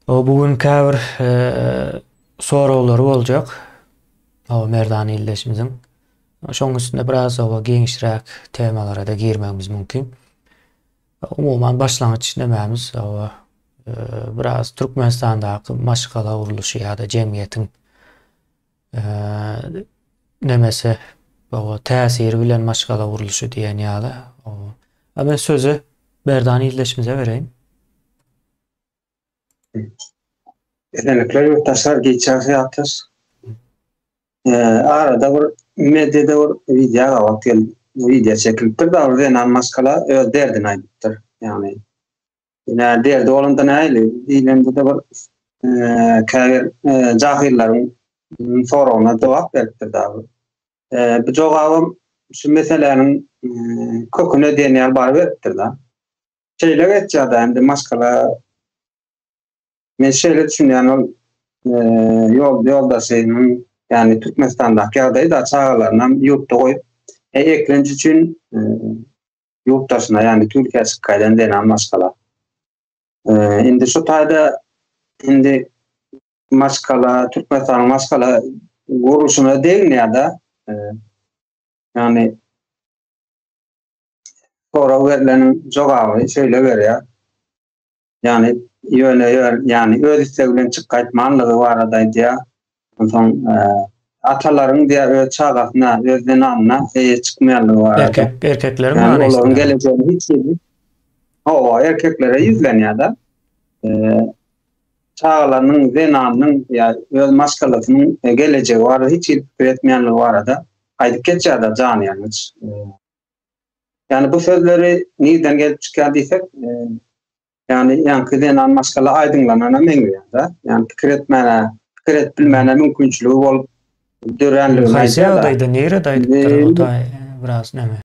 Bu gün käbir soraglary boljak. Hawa, merdana ildeşimiziň. Şonuň üstünde biraz oba giňişräk temalara-da girmegimiz mümkin. Umuman başlangyç nämämiz? Hawa, biraz Türkmenistandaky maşgala gurluşy ýa-da jemgyýetiň nemese oba täsiri bilen maşgala gurluşy diýen ýaly. A men sözi Berdan ildeşimize bereýin. Esenlikler yurttaşlar geçen seyahatlar. Ee, arada bir medyada bir video gabat geldi. Video çekilipdir da bir zenan maskala öz derdini aydypdyr. Yani Ine, derdi bolanda näli? Diýlende de bir käbir jahyrlaryň soragyna jogap beripdir dagy. Bu jogabym şu meseläniň köküne diýen ýaly bar beripdir da. Şeýle geçýär-de, indi maşgala Men şeýle düşünýän ol ýol ýoldaşynyň ýagny Türkmenistandaky ýagdaýy da çagalaryny ýurtda goýup eklenç üçin ýurt daşyna, ýagny Türkiýä çykyp gaýdan zenan maşgala. Indi şu taýda indi maşgala, Türkmenistanyň maşgala gurluşyna degnýär-de. Ýagny Sonra berlen jogaby şeýle berýär. ýagny ýöne ýagny öz istegi bilen çyk gaýtmanlygy barada aýdýar. Onsoň e, atalaryň diýä öz çagasyna, öz zenanyna eýe çykmaýanlygy barada. Erkek, erkekleriň yani manysyna. Olaryň gelejegi hiç ýerde. Hawa, erkeklere ýüzlenýär-de. E, çagalarynyň, zenanynyň ýa öz maşgalasynyň e, gelejegi barada hiç ýerde pikir etmeýänligi barada aýdyp geçýär-de jany ýalňyç. E, Yani bu sözleri nirden gelip çykýar diýsek, e, yani ýaňky zenan maşgala aýdyňlanana meňzeýär-de. Yani pikir etmäne, pikir edip bilmäne mümkinçiligi bolup döränligini aýdýar-da. Haýsy ýagdaýda, nirede aýdypdyr, o da biraz näme?